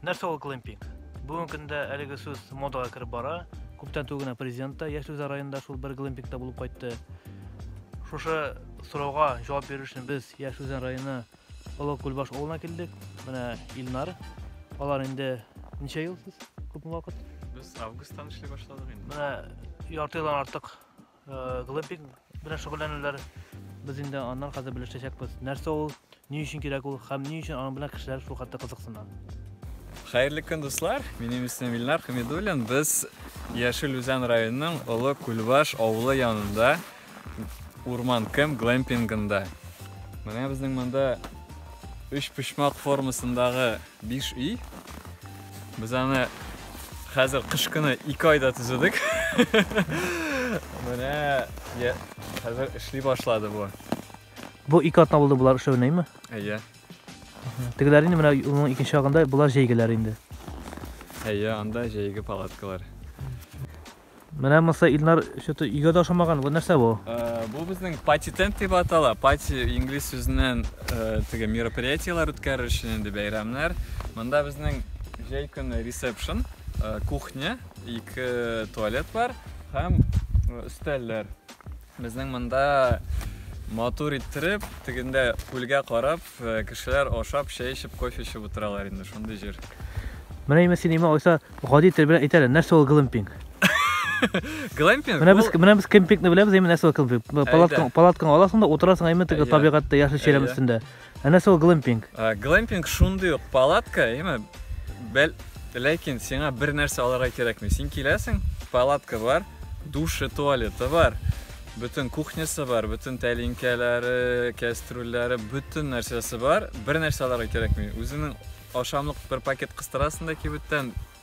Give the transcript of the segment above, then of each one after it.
Нәрсә ул глэмпинг? Бүгенге көндә әлеге сүз модага кереп бара. Күптән түгел генә президент та Яшелза районында шул бер глэмпингта булып кайтты. Шушы сорауга җавап бирер өчен без Яшелза районы Олы Күлбаш авылына килдек. Менә Илнар. Алар инде ничә ел сез? Күпме вакыт? Без августтан эшли башладык инде. Менә ярты елдан артык Э, глэмпинг белән шөгыльләнүләр без инде аннан хәзер белешәчәкбез. Нәрсә ул, ни өчен кирәк ул һәм ни өчен аның белән кешеләр шул хәтта кызыксына. Хәерле көн, дуслар. Минем исемем Илнар Хамидуллин. Без Яшел Үзән районының Олы Күлбаш авылы янында Урман Кем глэмпингында. Менә безнең монда өч почмак формасындагы Биш ий. Без аны хәзер кыш көне ике айда төзедек. Менә хәзер эшли башлады бу. Бу ике атна булды болар эшләвенәме? Әйе. Тегеләр инде менә юлның икенче ягында, болар җәйгеләр инде. Әйе, анда җәйге палаткалар. Менә монысы Илнар что-то өйгә дә ошамаган. Бу нәрсә бу? Бу безнең пати тент дип атала. Пати инглиз сүзеннән теге мероприятиеләр үткәрер өчен инде бәйрәмнәр. Монда безнең җәй көне ресепшн, кухня, ике туалет бар һәм өстәлләр. Безнең монда матур иттереп, тегендә күлгә карап, э, кешеләр ашап, чәй эчеп, кофе эчеп утыралар инде, шундый җир. Менә имә син имә алайса гади тел белән әйтәле, нәрсә ул глэмпинг? Глэмпинг? Менә без менә без кемпингны беләбез, әйме нәрсә ул кемпинг? Палаткаң палаткаң аласың да утырасың әйме теге табигатьтә яшел чирәм өстендә. Ә нәрсә ул глэмпинг? Э, глэмпинг шундый ук палатка, яме бәл ләкин сиңа бер нәрсә алырга кирәкми. Син киләсең, палатка бар, душы, туалеты бар, бөтен кухнясы бар, бөтен тәлинкәләре, кәстрүлләре, бөтен нәрсәсе бар. Бер нәрсә алырга кирәкми. Үзенең ашамлык бер пакет кыстырасың да кибеттән,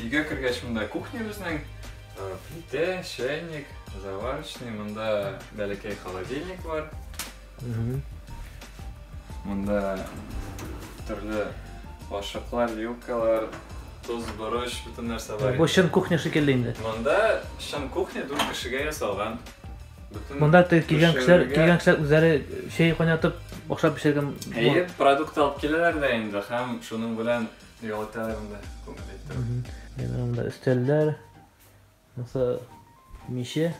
Өйгә кергәч монда кухня безнең. Э, плитә, чайник, заварочный, монда бәләкәй холодильник бар. Монда төрле ашыклар, вилкалар, тоз, борыч, бөтен нәрсә бар. Бу чын кухня шикелле инде. Монда чын кухня дүрт кешегә ясалган. Монда килгән кешеләр, Пешерергә. килгән кешеләр үзләре чәй кайнатып, ашап пешергән. Әйе, продукт алып киләләр дә инде һәм шуның белән ял итәләр инде күңел иттереп. Мгм. Менә монда өстәлләр, монысы миче.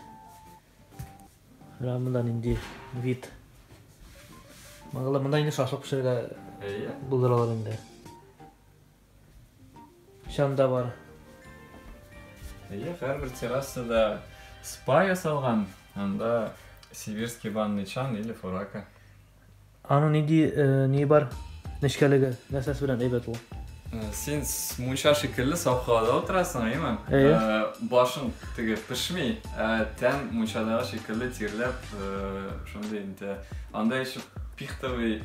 Менә монда нинди вид. Монда монда инде шашлык пешерергә Әйе. булдыралар инде. Чанда бар. Әйе, һәрбер террасада спа ясалган, анда сибирский банный чан или фурака. Аның ниди э, ни бар? Нечкәлеге, нәрсәсе белән әйбәт ул? Э, син мунча шикелле саф һавада утырасың, әйеме? Әйе. Э, башың теге пешми, ә тән мунчадагы шикелле тирләп, шундый инде. Анда еще пихтовый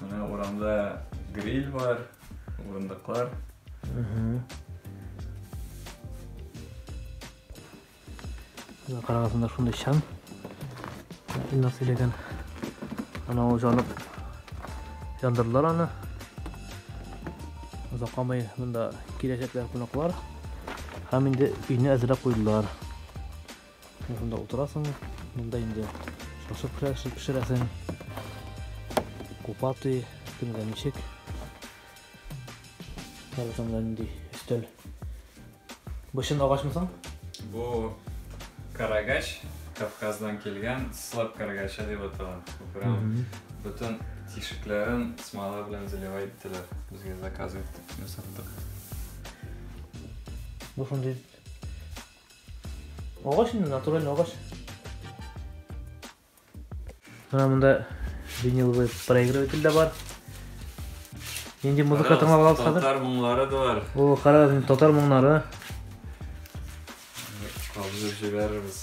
Менә урамда гриль бар, урындыклар. Карагызында шундай чан. Инна сөйләгән. Ана ул жанып яндырдылар аны. Озакламый монда киләчәкләр кунаклар. Һәм инде өйне әзерләп куйдылар. Менә шунда утырасың, монда инде шашлык пешерәсең. Купаты, кемгә ничек. Хәзер монда нинди өстәл. Бышын агачмы соң? Бу карагач, Кавказдан килгән слаб карагача дип атала. Прям бөтен тишекләрен смола белән заливай иттеләр. Безгә заказ иттек, ясаттык. Бу шундый Агач инде, натуральный агач. Менә монда виниловый проигрыватель дә бар. Нинди музыка тыңлап аласыз хәзер? Татар моңнары да бар. О, карагыз, инде татар моңнары. Кабызып җибәрербез.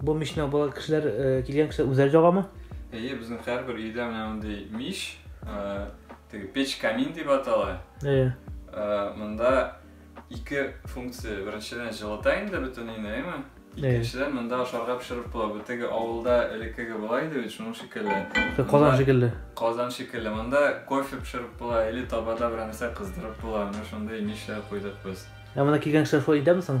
Бу мишне бала кешеләр килгән кешеләр үзләре җагамы? Әйе, безнең һәрбер өйдә менә мондый миш, теге печ камин дип атала. Әйе. Монда ике функция. Беренчедән җылыта инде бөтен өйне, әйеме? Икенчедән монда ашарга пешереп була. Бу теге авылда элеккеге була иде бит, шуның шикелле. Казан шикелле. Казан шикелле. Монда кофе пешереп була или табада берәр нәрсә кыздырып була. Менә шундый мишләр куйдык без. Ә монда килгән кешеләр шулай итәме соң?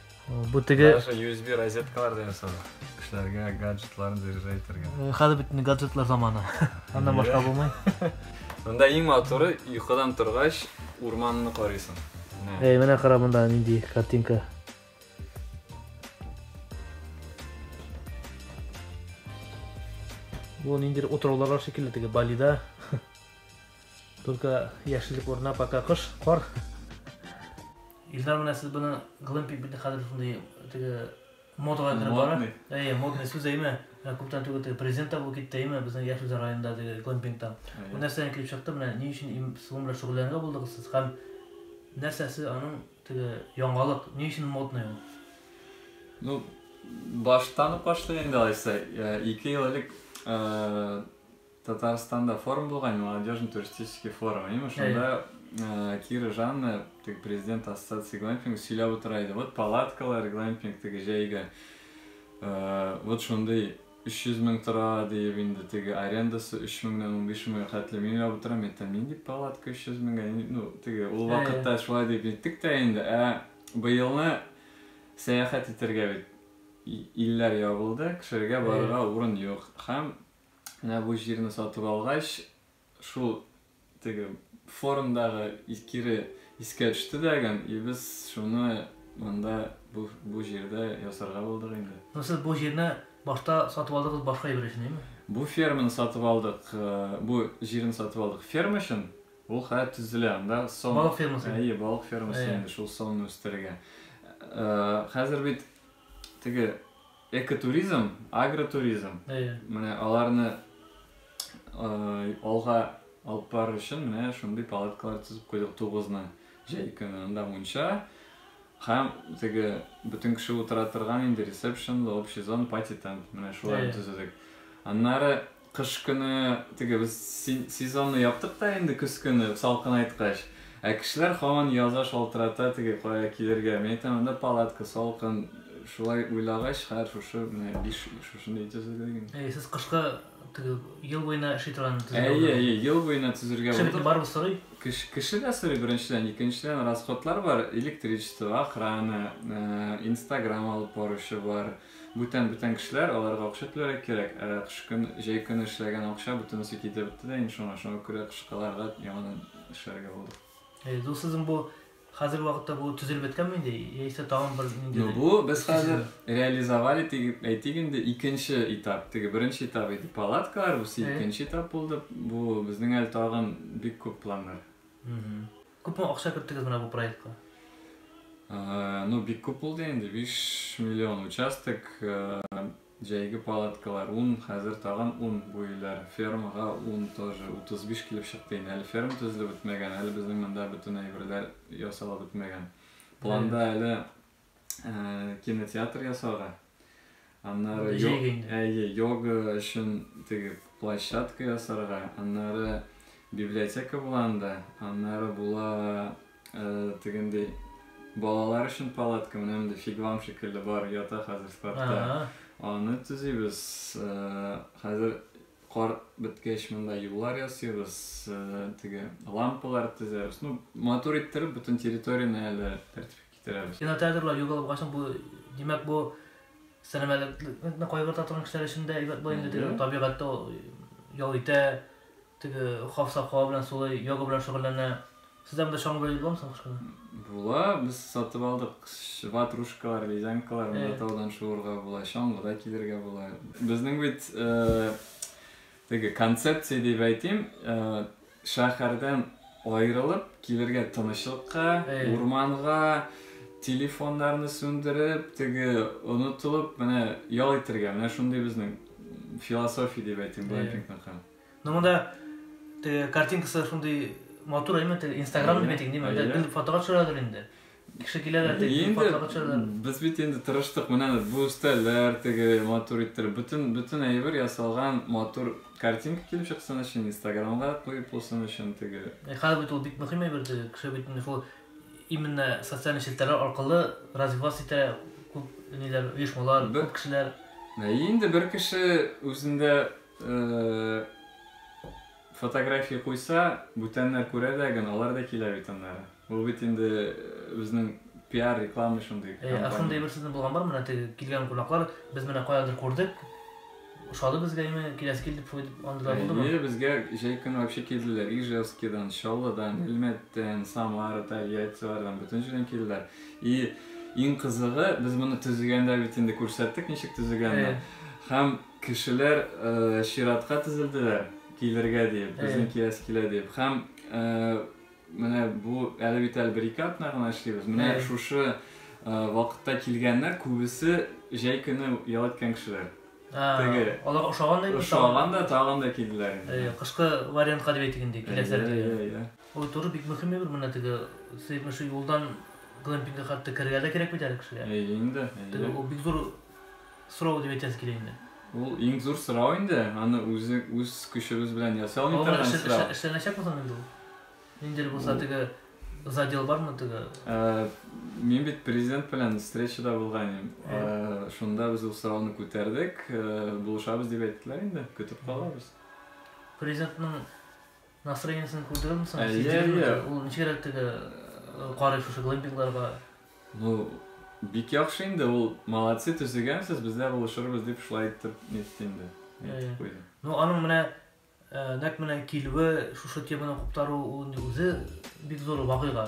Бу теге... Даже USB розеткалар да ясады. Кешеләргә гаджетларын заряжай итәргә. Э, хәзер бөтен гаджетлар заманы. Аннан башка булмый. Монда иң матуры йокыдан торгач урманны карыйсың. Эй, менә кара монда нинди картинка. Бу ниндидер утраулар бар шикелле теге Балида. Только яшеллек урнына пока кыш, кар. Илдар менә сез буны глэмпинг бит хәзер шундый теге модага кереп бара. Модный. Әйе, модный сүз әйме. Менә күптән түгел теге президент та булып китте әйме безнең Яшелза районында теге глэмпингтан. Бу нәрсәдән килеп чыкты? Менә ни өчен им суым белән шөгыльләнергә булдыгыз сез һәм нәрсәсе аның теге яңалык, ни өчен модный ул? Ну, баштан ук башлый инде алайса. Ике ел элек Татарстанда форум булган, молодежный туристический форум. Именно шунда э, Кира Жанна, теге президент ассоциации глэмпинга сөйләп утыра иде. Вот палаткалар глэмпинг теге җәйгә. Э, вот шундый 300 мең тора диеп инде теге арендасы 3 меңнән 15 меңгә хәтле мин уйлап утырам, әйтәм, нинди палатка 300 меңгә, ну, теге ул вакытта шулай дип әйттек тә инде, ә быелны сәяхәт итәргә бит илләр ябылды, кешеләргә барырга урын юк. Һәм Менә бу җирне сатып алгач, шул теге форумдагы кире искә төште дә гән, и без шуны монда бу, бу җирдә ясарга булдык инде. Ну сез бу җирне башта сатып алдыгыз башка әйбер өчен, әйме? Бу ферманы сатып алдык, бу җирне сатып алдык ферма өчен. Ул хәзер төзелә, анда сон. Балык фермасы. Әйе, балык фермасы инде шул сонны үстерергә. Хәзер бит теге Экотуризм, агротуризм. Әйе. Менә аларны алга алып барыр өчен менә шундый палаткалар төзеп куйдык тугызны. Җәй көне анда мунча һәм теге бөтен кеше утыра торган инде ресепшн, общий зона, пати тент. Менә шуларны төзедек. Аннары Кыш көне теге без сезонны яптык та инде көз көне салкынайткач. Ә кешеләр һаман яза шалтырата теге кая килергә. Мин әйтәм, анда палатка салкын. Шулай уйлагач, хәер шушы менә биш шушындый төзелде генә. Әйе, сез кышка теге ел буена эшли торган төзелгән. Әйе, әйе, ел буена төзергә булдык. Кеше барыбыз сорый. Кеше, кеше дә сорый беренчедән, икенчедән расходлар бар, электричество, охрана, инстаграм алып баручы бар. Бүтән бүтән кешеләр, аларга акча түләргә кирәк, ә кыш көн, җәй көне эшләгән акча бөтенесе китеп бетте дә инде шуңа, шуңа күрә кышкыларга яңадан эшләргә булдык. Әйе, ду сезнең бу хәзерге вакытта бу төзелеп беткәнме инде, яисә тагын бер ниндидер? Ну бу без хәзер реализовали дип әйтик инде, икенче этап, теге беренче этап иде палаткалар, бусы икенче этап булды, бу безнең әле тагын бик күп планнар. Күпме акча керттегез менә бу проектка? Ну, бик күп булды инде, 5 миллион участок, җәйге палаткалар 10, хәзер тагын 10 бу өйләр, фермага 10 тоже, 35 килеп чыкты инде. Әле ферма төзелеп бетмәгән, әле безнең монда бөтен әйберләр ясалып бетмәгән. Планда әле ә, кинотеатр ясарга. Аннары әйе, йога өчен теге площадка ясарга, аннары библиотека була анда, аннары була ә, тегендәй балалар өчен палатка, менә мондый фигвам шикелле бар, ята хәзер складта. Аны төзибез. Ә, хәзер кар беткәч монда юллар ясыйбыз, ә, теге лампалар төзәбез. Ну, матур иттереп бөтен территорияне әле тәртипкә китерәбез. Кинотеатрлар югалып калсын, бу, димәк, бу сәламәтлекне кайгырта торган кешеләр өчен дә әйбәт була инде, теге табигатьтә ял итә, теге хафсак һава белән сулый, йога белән шөгыльләнә. Сездә монда чаңгы бәйле буламы соң кышкы? Була, без сатып алдык. Ватрушкалар, ледянкалар, монда таудан шуырга була, чаңгыда килергә була. Безнең бит теге концепция дип әйтим, Шәһәрдән аерылып, килергә тынычлыкка, урманга, телефоннарны сүндереп, теге онытылып, менә ял итергә. Менә шундый безнең философия дип әйтим глэмпингныкы. Ну монда теге картинкасы шундый матур әйме, теге инстаграмны бетик, диме, бер фотога төшерәдер инде. Кеше килә дә теге Инде патшага төшәләр. без бит инде тырыштык, менә бу өстәлләр теге матур иттереп, бөтен бөтен әйбер ясалган, матур картинка килеп чыксын өчен, инстаграмга куеп булсын өчен теге. Э, Хәзер бит ул бик мөһим әйбер теге. Кеше бит инде шул именно социаль челтәрләр аркылы развиваться итә күп ниләр, оешмалар, Бер- күп кешеләр. Ә инде бер кеше үзендә э, Фотография куйса, бүтәннәр күрә дә гөн, алар да килә бит аннары. Ул бит инде безнең пиар, реклама шундый Әйе, ә шундый кампания. бер сезнең булган бармы, менә теге килгән кунаклар, без менә каядыр күрдек, ошады безгә имә, киләсе килдек фу дип, андый да булдымы? Әйе, безгә җәй көне вообще килделәр, Ижевскидан, Чаллыдан, Әлмәттән, Самара, Тольяттилардан, бөтен җирдән килделәр. И иң кызыгы, без моны төзегәндә бит инде күрсәттек, ничек төзегәнне. Әйе. Һәм. Кешеләр чиратка тезелделәр, килергә диеп, безнең киләсе килә диеп. Һәм менә бу әле бит әле бер-ике атна гына эшлибез. Менә шушы вакытта килгәннәр күбесе җәй көне ял иткән кешеләр. Теге. Алар ошаган да инде. Ошаган да, тагын да килделәр инде. Э, кышкы вариантка дип әйтик инде, киләсе әле. Ул туры бик мөһим бер менә теге сыймы шу юлдан глэмпингка хәтта керергә дә кирәк бит әле кешегә. Әйе инде. Теге ул бик зур Сорау дип әйтәсе килә инде. Ул иң зур сорау инде, аны үзе үз көчебез белән ясый алмый Алар торган эшлә, эшлә, сорау. эшләнәчәкме соң инде ул? Ниндидер булса теге задел бармы теге? Ә, мин бит президент белән встречада булган идем. Ә, шунда без ул сорауны күтәрдек, ә, булышабыз дип әйттеләр инде, көтеп калабыз. Президентның Настроениесен күрдегезме соң? Әйе, әйе. Ул ничегрәк теге карый шушы глэмпингларга? Ну, бик яхшы инде ул молодцы төзегәнсез бездә булышырбыз дип шулай итеп нетте инде әйтеп куйды ну аның менә нәкъ менә килүе шушы теманы куптаруы ул инде үзе бик зур вакыйга